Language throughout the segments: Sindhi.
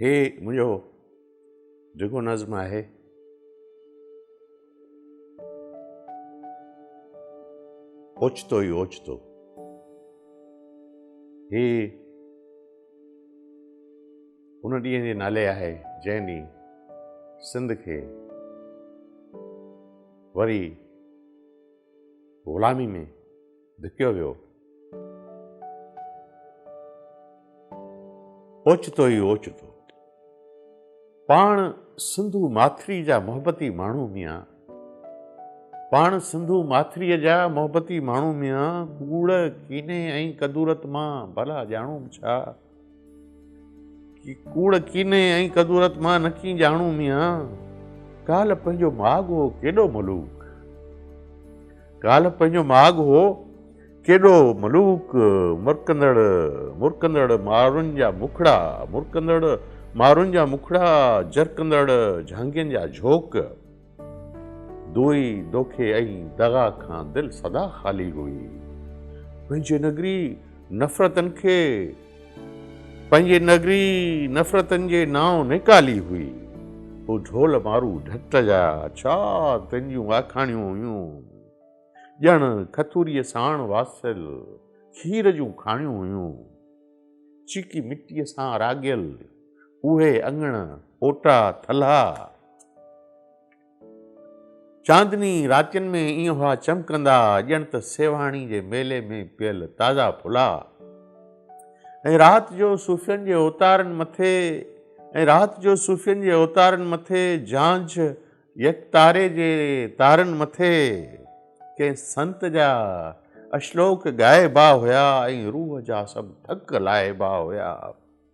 هي منهنجو ڊگهو نظم آهي اوچتو ئي اوچتو هي ان ڏينهن جي نالي آهي جنهن ڏينهن سنڌ کي وري غلامي ۾ ڌڪيو ويو. اوچتو ئي اوچتو پاڻ سنڌو ماٿري جا محبتي ماڻهو ميان پاڻ سنڌو ماٿري جا محبتي ماڻهو ميان ڪوڙ، ڪيني ۽ ڪدورت مان ڀلا ڄاڻون ڇا؟ ڪوڙ ڪيني ۽ ڪدورت مان نه ڪين ڄاڻون ميان ڪالهه پنهنجو ماڳ هو ڪيڏو ملوڪ ڪالهه پنهنجو ماڳ هو ڪيڏو ملوڪ مرڪندڙ مرڪندڙ مارن جا مکڙا مرڪندڙ مارن جا مکڙا جرڪندڙ جهانگين جا جھوڪ دوئي، دوکي ۽ دغا کان دل سدا خالي هئي. پنهنجي نگري نفرتن کي پنهنجي نگري نفرتن جي نانء نيڪالي هئي. هو ڍول مارو ڍٽ جا ڇا تن جون آکاڻيون هيون. ڄڻ کٿوريء ساڻ واسيل کير جون ڪھاڻيون هيون. چيڪي مٽيء سان راڳيل اهي اڱڻ، اوٽا، ٿلها، چاندني راتين ۾ ائين هئا چمڪندا، ڄڻ ته سيوهاڻي جي ميلي ۾ پيل تازا ڦلا. ۽ رات جو صوفين جي اوتارن مٿي ۽ رات جو صوفين جي اوتارن مٿي جھانجھ يڪ تاري جي تارن مٿي ڪنهن سنت جا اشلوڪ ڳائبا هيا ۽ روح جا سڀ ٿڪ لاهبا هيا.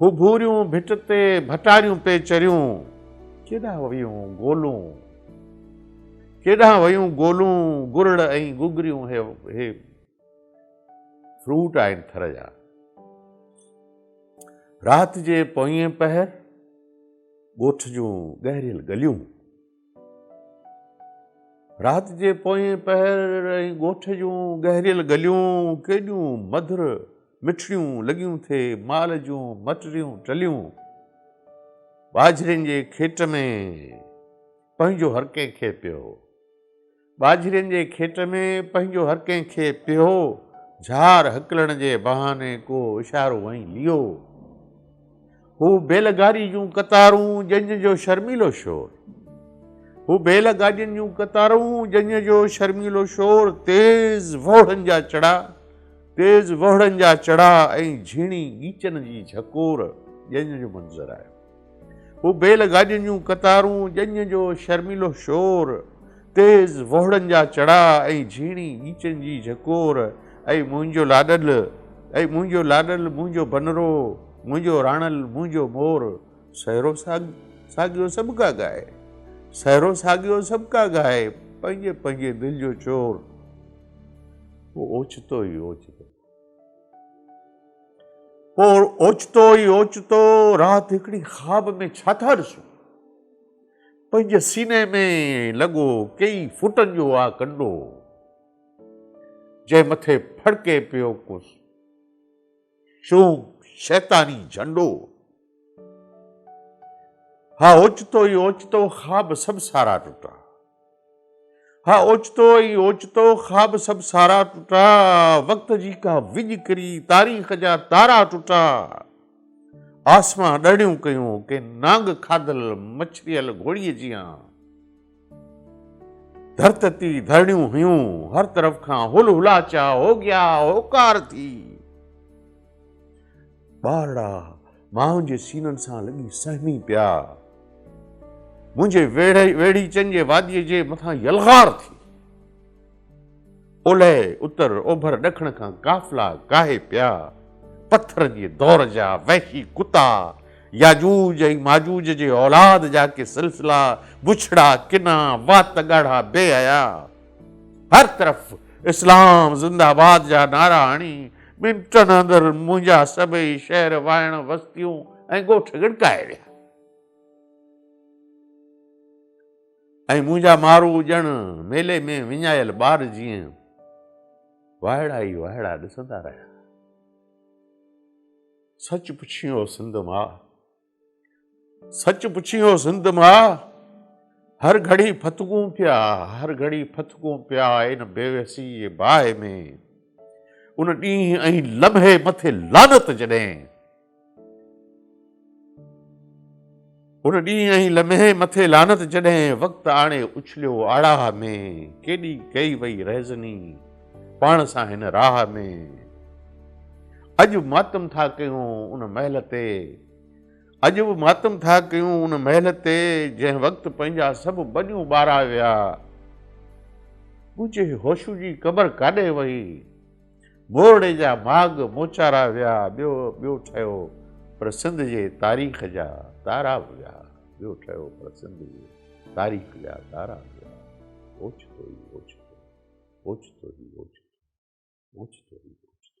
هو ڀوريون ڀٽ تي ڀٽاريون پئي چريون. ڪيڏانهن ويون گولون، ڪيڏانهن ويون گولون، گرڙ ۽ گگريون هي هي فروٽ آهن ٿر جا. رات جي پوئين پهر ڳوٺ جون ڳهريل ڳليون. رات جي پوئين پهر ۽ ڳوٺ جون گهريل گليون ڪيڏيون مڌر مٺڙيون لڳيون ٿي مال جون مٽريون ٽليون ٻاجهرين جي کيٽ ۾ پنهنجو هر ڪنهن کي پيو ٻاجهرين جي کيٽ ۾ پنهنجو هر ڪنهن کي پيهو جهار هڪلڻ جي بهاني ڪو اشارو ۽ ليئو هو بيل گاڏي جون قطارون جنج جو شرميلو شور هو بيل گاڏين جون قطارون جنج جو شرميلو شور تيز وهڙن جا چڙا تيز وهڙن جا چڙا ۽ جھيڻي ڳيچن جي جھڪور ڄڃ جو منظر آيو هو بيل گاڏين جون قطارون، ڄڃ جو شرميلو شور، تيز وهڙن جا چڙا ۽ جهيڻي ڳيچن جي جهڪور ۽ منهنجو لاڏل ۽ منهنجو لاڏل منهنجو بنرو منهنجو راڻل منهنجو مور سهرو ساڳيو سڀ ڪا ڳائي سهرو ساڳيو سڀ ڪا ڳائي پنهنجي پنهنجي دل جو چور هو اوچتو ئي اوچتو پوء اوچتو ئي اوچتو رات هڪڙي خواب ۾ ڇا ٿا ڏسون؟ پنهنجي سيني ۾ لڳو ڪيئي فوٽن جو آ ڪنڊو، جنهن مٿي ڦڙڪي پيو ڪو شوم شيطاني جهنڊو. ها اوچتو ئي اوچتو خواب سڀ سارا ٽٽا ها اوچتو ئي اوچتو خواب سڀ سارا ٽٽا وقت جي ڪا وڄ ڪري تاريخ جا تارا ٽٽا آسمان ڏڙيون ڪيون ڪنهن نانگ کاڌل مڇريل گهوڙي جيان ڌرتتي ڌرڻيون هيون، هر طرف کان هل هلاچا، هوگيا هوڪار ٿي. ٻارڙا ماين جي سينن سان لڳي سهمي پيا. منهنجي ويڙهيچن جي واديء جي مٿان يلغار ٿي. اولهه، اتر، اوڀر، ڏکڻ کان قافلا ڪاهي پيا. پٿر جي دور جا وحشي ڪتا، ياجوج ۽ ماجوج جي اولاد جا ڪي سلسلا، بڇڙا، ڪنا، وات ڳاڙها بي حيا، هر طرف اسلام زنده باد جا نعرا هڻي، منٽن اندر منهنجا سڀئي شهر، واهڻ، وستيون ۽ ڳوٺ ڳڙڪائي ويا. ۽ منهنجا مارو ڄڻ ميلي ۾ وڃايل ٻار جيئن وائڙا ئي وائڙا ڏسندا رهيا. سچ پڇين او سنڌ ماء، سچ پڇين او سنڌ ماء، هر گهڙي ڦٿڪون پيا، هر گهڙي ڦٿڪون پيا ان بيوسي جي باهه ۾، ان ڏينهن ۽ لمحي مٿي لعنت جڏهن ان ڏينهن ۽ لمحي مٿي لعنت جڏهن وقت آڻي اڇليو آڙاهه ۾، ڪيڏي ڪئي وئي رهزني پاڻ سان هن راهه ۾، اڄ ماتم ٿا ڪيون ان مهل تي، اڄ به ماتم ٿا ڪيون ان مهل تي، جنهن وقت پنهنجا سڀ ٻنيون ٻارا ويا، ڳجهي هوشو جي قبر ڪاڏي وئي؟ مورڙي جا ماڳ موچارا ويا ٻيو ٻيو ٺهيو پر سنڌ جي تاريخ جا تارا به ويا ٻيو ٺهيو پر سنڌ جي تاريخ جا تارا به ويا اوچتو ئي اوچتو اوچتو ئي اوچتو اوچتو ئي اوچتو